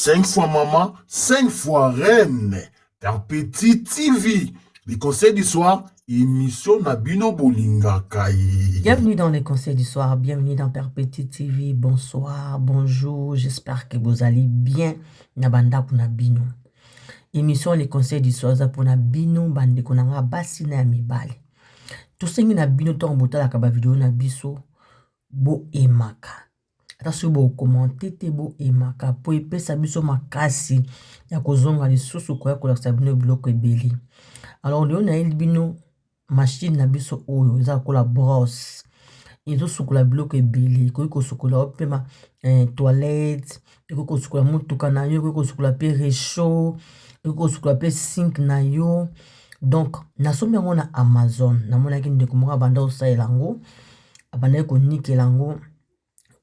5 fois maman, 5 fois reine. Perpétue TV, les conseils du soir, émission na bino bolinga kai. Bienvenue dans les conseils du soir, bienvenue dans Perpétue TV. Bonsoir, bonjour, j'espère que vous allez bien. Nabanda kuna bino. Émission les conseils du soir za pona bino bande konanga basi na mibale. Tosengi na bino ntango botalaka bavideo na biso boemaka ata soki bo commente te bo aimaka po epesa biso makasi ya kozonga lisusu koya kolakisa bino biloko ebele alors lelo nayeli bino machine na biso oyo eza lokola brosse ezosukola biloko ebele ekoki kosukola yo mpe ma toilette ekoki kosukola motuka na yo ekoki kosukola mpe recho ekoki kosukola mpe sink na yo donk nasombi yango na amazone namonaki ndeko moko abanda kosalela yango abandaki konikela yango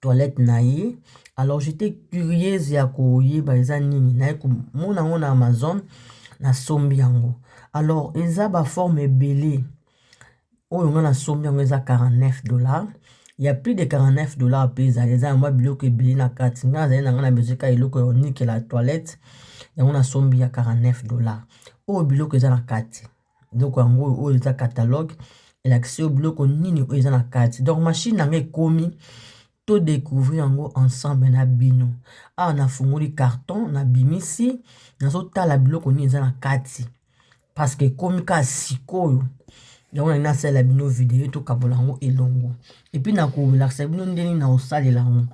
toilette na ye alors j'étais curieuse ya koyeba eza nini naye komona yango na amazon nasombi yango alors eza baforme ebele oyo ngai nasombi yango eza 49 dollars ya plus de 49 dollars mpe ezali eza yangwa biloko ebele na kati ngai azali na ngai na bezeka eloko ya onikela toilette yango nasombi ya 49 dollars oyo biloko eza na kati eloko yango oyo oyo eza catalogue elakisi yo biloko nini oyo eza na kati donc mashine yango ekomi to decouvrir yango ensemble na bino awa nafungoli carton na bimisi nazotala biloko nini eza na kati parceke ekomi ka sikoyo yango na nasalela bino video tokabola yango elongo epuis na kolakisa bino ndenge na kosalela yango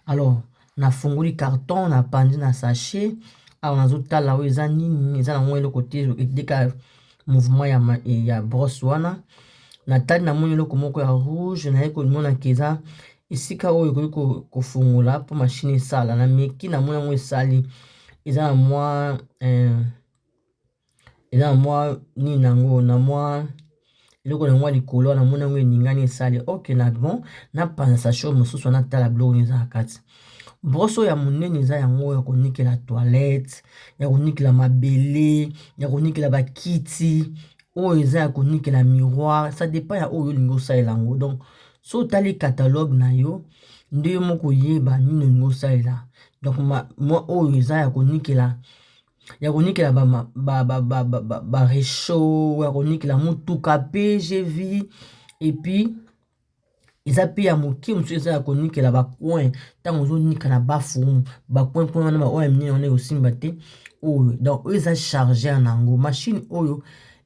alors Nafungoli carton na panzi na sachet awa nazotala oyo eza nini eza na ngo eloko te edika mouvement ya, ya brosse wana natali na moni eloko moko ya rouge naye komona ke eza esika oyo ekoki kofungola po mashine esala na meki na moni yango esali eza na mwa eh, eza na mwa nini na yango na mwa eloko na yango ya likolo wana namoni yango eningani esali ok na bon napanza sasho mosusu wana tala biloko nini eza na kati broso ya monene eza yango ya konikela toilette ya konikela mabele ya konikela bakiti oyo eza ya konikela miroir ça depend ya oyo olingi osalela yango donc so otali catalogue na yo nde yo moko oyeba nini olingi osalela donc mwa oyo eza ya konikela. ya konikela ba rechaud ya konikela motuka pe gvi epuis eza pe ya moke mosusu eza ya konikela ba coin ntango ozonika na bafumu ba coin kuna wana baoyo ya minene wana ekosimba te oyo donc oyo eza chargeur na yango mashine oyo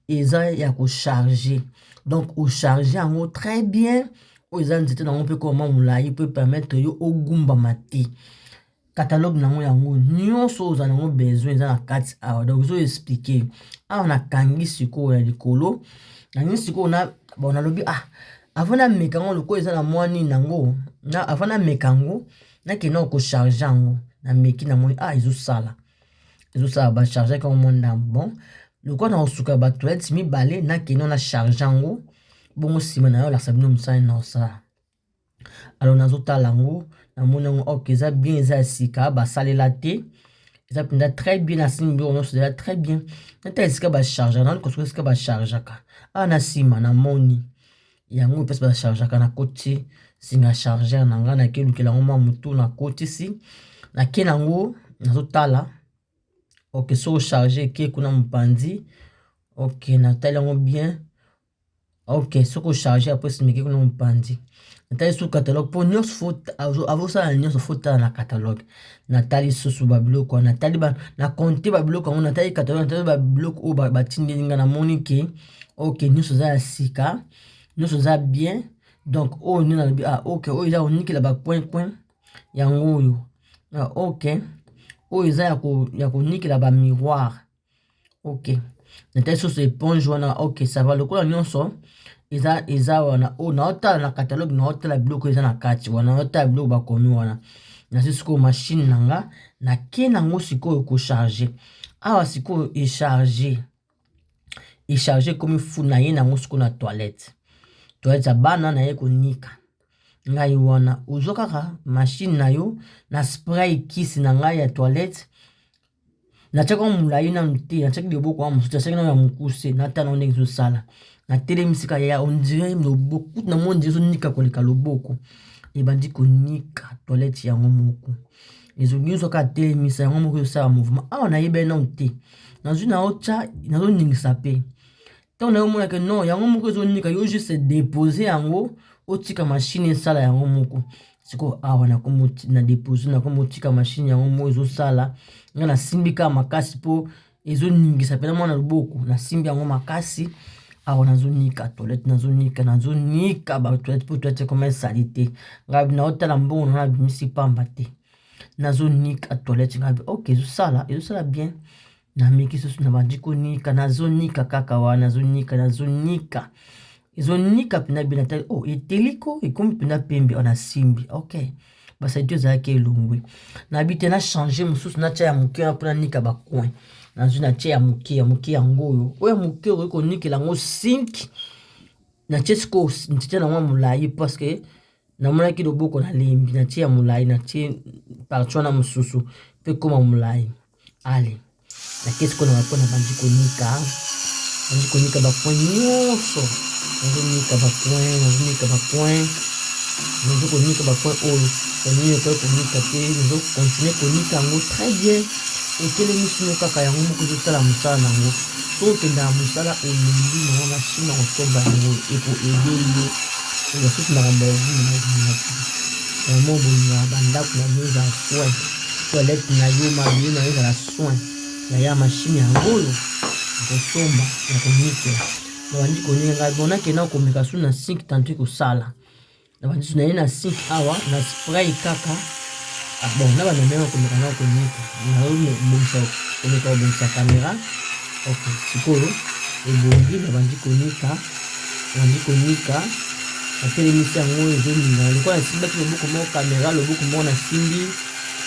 eza ya kocharge donc ocharge yango très bien oyo eza nzete na yango mpe koma molai po epermetre yo ogumbama te catalogue nango yango nyonso oyo ozala nango besoin eza na kati awa donc ezo explike awa nakangi sikoyo ya likolo nangi sikoyo na bon nalobi ah avant nameka yango lokola eza na mwa nini yango na avant nameka yango nakenda kocharge yango nameki namoni ah ezosala ezosala bachargeaki yango mwa ndambo bon lokola na kosuka batoilette mibale nakenda na charge yango bongo nsima na yo lakisa bino mosala na osala alors nazotala yango namoni yango ok eza bien eza ya sika basalela te eza mpenza très bien na simi biloko nyonso eza très bien nata esika bacharge nani kosuka esika bachargeaka awa na nsima na moni yango mpese bachargeaka na koti singa chargeur na ngai nake lukela yango mwa motu na kotisi nake na yango nazotala oke soko charge eke kuna mopanzi oke natali yango bien ok soki ocharge ya presse mike kuna mopanzi natali susu catalogue mpo nyonso fo avosala nyonso fo tala na catalogue natali susu babiloko wana natali na compte babiloko yango natali catalogue natali babiloko oyo batindeli ngai namoni ke ok nyonso eza ya sika nyonso eza bien donc oyo nde nalobi ah ok oyo eza konikela bacoin coin yango oyo ah ok oyo eza ya konikela bamiroire ok natali susu eponge wana ok sava lokola nyonso eza eza wana oyo oh, naotala na kataloge naotala biloko eza na kati wana naotala biloko bakomi wana nazwi sikoyo mashine na nga nake nango sikoyo kocharge awa sikoyo echarge echarge ekomi fu na ye nango sikoyo na toilette toilette ya bana naye konika ngai wana ozwa kaka mashine na yo na spray kisi na ngai ya toilette Natiaki yango molai nanu te, natiaki loboko yango mosusu, natiaki nano ya mokuse, natala yango ndenge ezosala. Natelemi sika ya ondire loboko, kutu na moni ezonika koleka loboko, ebandi konika toilette yango moko. Ezo nyonso kaka telemisa yango moko ezosala mouvement. Awa nayebani nanu te, nazwi naotya, nazoningisa pe. ntango nayo omona ke non yango moko ezonika yo juste depose yango otika mashine esala yango moko sikoyo awa na depose nakomi otika mashine yango moko ezosala nga nasimbi kaka makasi mpo ezoningisa mpena mwana loboko nasimbi yango makasi awa nazonika toilette nazonika nazonika batoilette mpo toilette ekoma esali te ngai naotala mbongo na nabimisi pamba te nazonika toilette ngai oke ezosala ezosala bien na miki susu na bandi konika nazonika kaka wana nazonika nazonika ezonika mpena bina tali o oh, eteliko ekomi mpena pembe wana oh, simbi ok basadi ezalaki elongwe nayebi te na change mosusu natya ya moke wana mpona nika bacoin nazwi natya ya moke ya moke yango oyo oyo ya moke okoki konikela yango sinki natye sikoyo nzete nango ya molai parceke namonaki loboko nalembi natye ya molai natye parti wana mosusu mpe ekoma molai ale nake sikoyo na bapwe nabandi konika nabandi konika bapoint nyonso nazonika bapoint nazonika bapoint nazo konika bapoint oyo yanini okoki konika te nazo continue konika yango très bien otelemisi no kaka yango moko ezosala mosala na yango so okendaka mosala olembi na wana china kosomba yango ekoede yo oya soki makambo ya obi na mobimaki yango bolingaka bandako na bino eza fwai toilette na yo mabele na yo ezala soin ya ya mashine yango oyo akosomba ya konikela nabandi konika ngai bona kenda komeka su na sink tantu ekosala nabandi su na ye na sink awa na spray kaka ah, bon na bamemema komeka na konika nabongisa komeka kobongisa kamera ok sikoyo ebongi nabandi konika Abandi konika, natelemisi yango ezoningana lokola nasimbaki loboko moko kamera, loboko moko nasimbi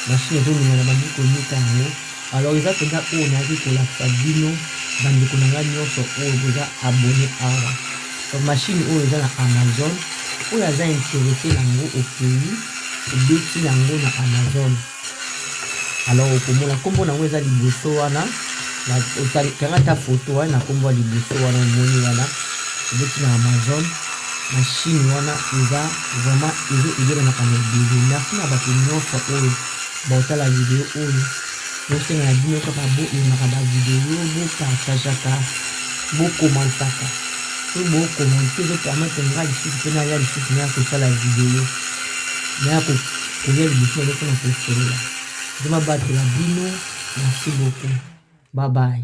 mashine ezoningana, abandi konika yango. Alors eza mpenza oyo nayaki kolakisa bino bandeko na ngai nyonso oyo boza abone awa. Donc mashine oyo eza na Amazon, oyo aza interese na yango okei obeti na yango na Amazon. alors okomona nkombo na yango eza liboso wana kanga ata foto wana na nkombo ya liboso wana omoni wana ebeti na amazon na chine wana eza vraiment ezo ebele makambo ebele merci na bato nyonso oyo baotala video oyo bosenga na bino kaka boemaka bavideo bopartageaka bokomantaka po bokomante ezopermetre ngai lisusu mpe naya lisusu naya kosala video naya koya liboso na biso na kosolola. Nzambe abatela bino. Merci beaucoup. Bye bye.